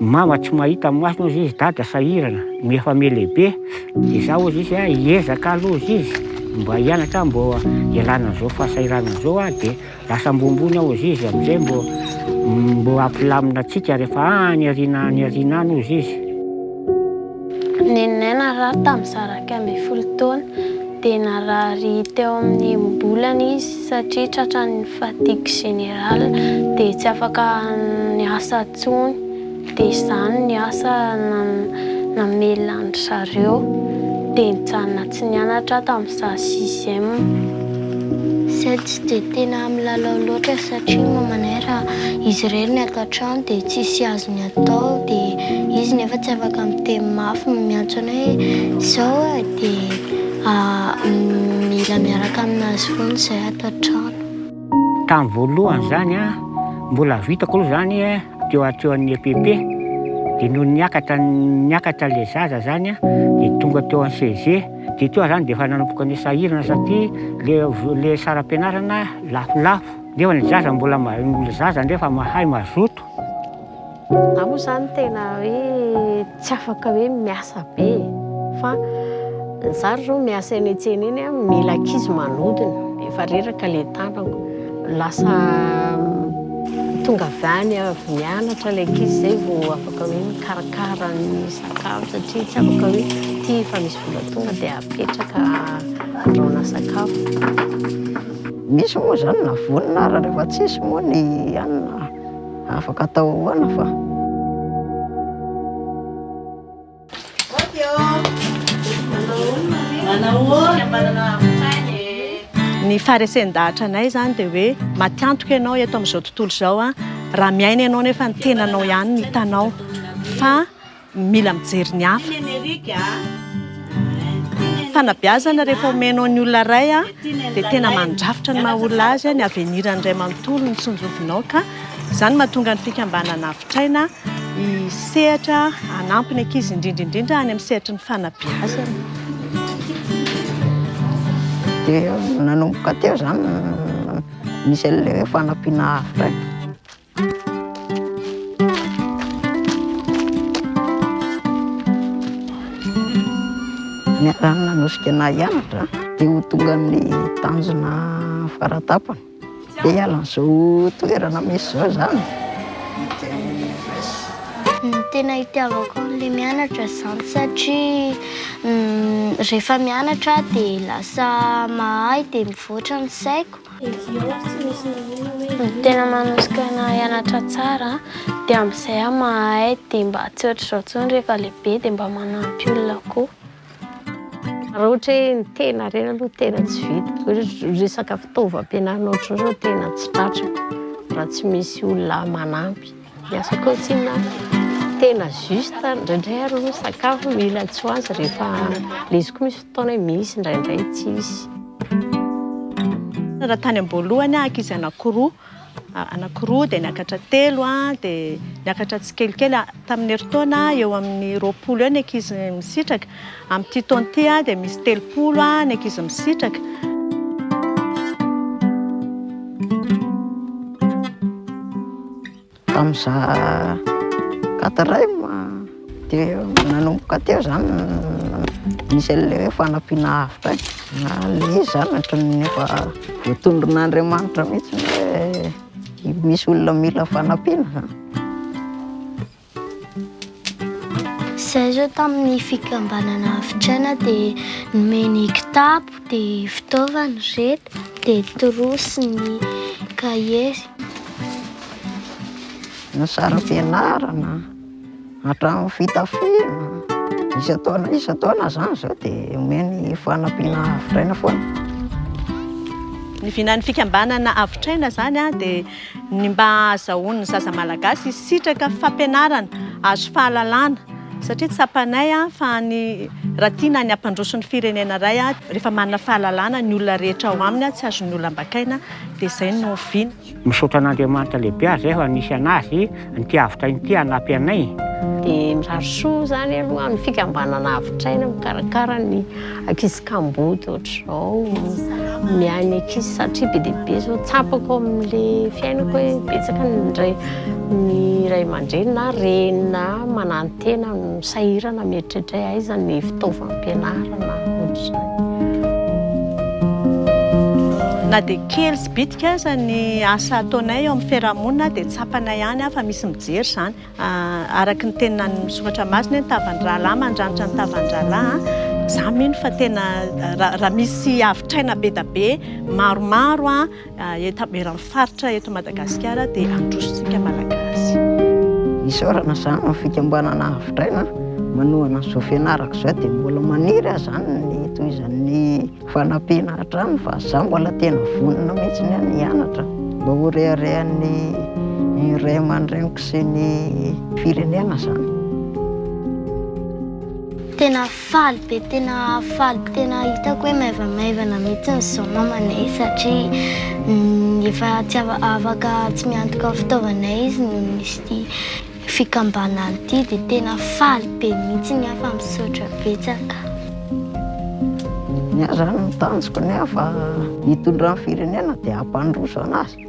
Mama tsy mahita masony ozy izy, dada sahirana no efa ame lehibe, de za ozy izy a hiezaka aloha ozy izy mba hianatra mbo hialana an'izao fahasahiranana zao a, de lasa ambonimbony aho ozy izy am'zay mbo mbo hampilamina antsika rehefa any aoriana any aoriana any ozy izy. Neninay narary tamin'ny zaraika ambin'ny folo taona, dia narary teo amin'ny enim-bolana izy. satria tratran'ny fatigue générale dia tsy afaka miasa intsony dia izany ny asa namelona an-dry zareo dia nijanona tsy nianatra aho tamin'izaho sixième. Izahay tsy dia tena milalao loatra satria ny mamanay raha izy irery ny ato an-trano dia tsisy azony atao dia izy nefa tsy afaka miteny mafy miantso anay hoe izao dia Mila miaraka aminazy foana zay ato an-trano. Tamin'ny voalohany izany mbola vitako aloha izany teo an-tsehoan'ny EPP, dia nony niakatra niakatra ilay zaza izany dia tonga teo amin'ny CEG, dia teo aho izany dia efa nanomboka nisahirana satria ilay ilay saram-pianarana lafolafo nefa ny zaza mbola, ny zaza anefa mahay mazoto. Za moa zany tena hoe tsy afaka hoe miasa be e, fa za ry zao miasa eny an-tsena eny a, mila ankizy manodina, efa reraka le tanako, lasa tonga avy any avy nianatra le ankizy zay vao afaka hoe mikarakara ny sakafo satria tsy afaka hoe ty efa misy vola tonga de apetraka andrahoina sakafo. Misy moa zany na vonona ary rehefa tsisy moa ny hanina. Afaka atao ahoana fa. Ny faharesen-dahatra anay izany dia hoe matiantoka ianao eto amin'izao tontolo izao raha miaina ianao nefa ny tenanao ihany no hitanao fa Mila mijery ny hafa. Fanabeazana rehefa omenao ny olona iray dia tena mandrafitra ny maha olona azy, ny avenir-ny iray manontolo no tsinjovinao ka izany mahatonga ny fikambanana Avitraina hisehatra hanampy ny ankizy indrindra indrindra any amin'ny sehatry ny fanabeazana. Dia nanomboka teo izany misy an'ilay hoe fanampiana Avitraina. Ny anaran'ny nanosika anah hianatra dia ho tonga amin'ny tanjona faratapany dia hiala an'izao toerana misy izao zany dia hivers Ny tena hitiavako an'ilay mianatra izany satria rehefa mianatra aho dia lasa mahay dia mivoatra ny saiko. Ny tena manosika anah hianatra tsara dia amin'izay aho mahay dia mba tsy ohatr'izao intsony rehefa lehibe dia mba manampy olona koa. Raha ohatra hoe ny tena irery aloha no tena tsy vita, resaka fitaovam-pianarana ohatr'izao izao tena tsy tratrako raha tsy misy olona manampy. Miasa cantine aho. Tena juste indraindray ary aloha sakafo mila tsy ho azy rehefa le izy koa misy fotoana hoe misy indraindray tsy hisy. Raha tany am-boalohany aho ankizy anankiroa anankiroa dia niakatra telo an, dia niakatra tsikelikely tamin'ny herintaona eo amin'ny roapolo eo ny ankizy misitraka. Amin'ity taona ity dia misy telopolo ny ankizy misitraka. Tamin'ny za quatrième dia nanomboka teo zany nisy an'ilay hoe fanampiana avotra na le zany ohatran'ny efa voatondron'Andriamanitra mihitsy hoe misy olona mila fanampiana zany. Izahay izao tamin'ny fikambanana havitr'aina dia nomeny kitapo, dia fitaovana ry reto, dia trousse ny cahier. Ny saram-pianarana hatramin'ny fitafiana, isan-taona isan-taona izany izao dia omeny fanampiana havitr'aina foana. Ny vinan'ny fikambanana havitr'aina izany dia. ny mba hahazahoan'ny zaza malagasy hisitraka fampianarana, hahazo fahalalana satria tsapanay fa ny raha tiana ny hampandroso ny firenena iray rehefa manana fahalalana ny olona rehetra ao aminy tsy azon'ny olona ambakaina dia izay no oviana. Misaotra an'Andriamanitra lehibe aza efa nisy anazy. Mpiavitra inty hanampy anay. Dia mirary soa izany aloha ny fikambanana Avitraina mikarakara ny ankizy kamboty ohatr'izao. Miahy ny ankizy satria be dia be izao tsapako ao amin'ilay fiainako hoe betsaka ny indray ny ray aman-dreny na reny na manantena no sahirana mieritreritra hoe aiza ny fitaovam-pianarana ohatr'izany. Na dia kely. Bitika aza ny asa ataonay eo amin'ny fiarahamonina dia tsapanay any fa misy mijery izany. Araka ny tenin'ny soratra masina hoe ny tavan'ny rahalahy mandranitra ny tavan'ny rahalahy. Izaho mino fa tena raha misy havitraina be dia be maromaro eran'ny faritra eto Madagasikara dia handrosontsika Malagasy. Isaorana izany amin'ny fikambanana havitraina manohana ny zo fianarako izao dia mbola maniry aho izany ny hitohizan'ny Fanampiana hatrany fa za mbola tena vonona mihitsy ny any hianatra mba ho reharehan'ny ray aman-dreniko sy ny firenena zany. Tena faly be, tena faly, tena hitako hoe maivamaivana mihitsy ny zao mamanay satria efa tsy afaka tsy miantoka fitaovana izy noho izy ity. Fikambanana ity dia tena faly be mihitsy ny hafa misaotra betsaka. Ny ahy zany ny tanjoko ny hafa hitondra ny firenena dia hampandroso anazy.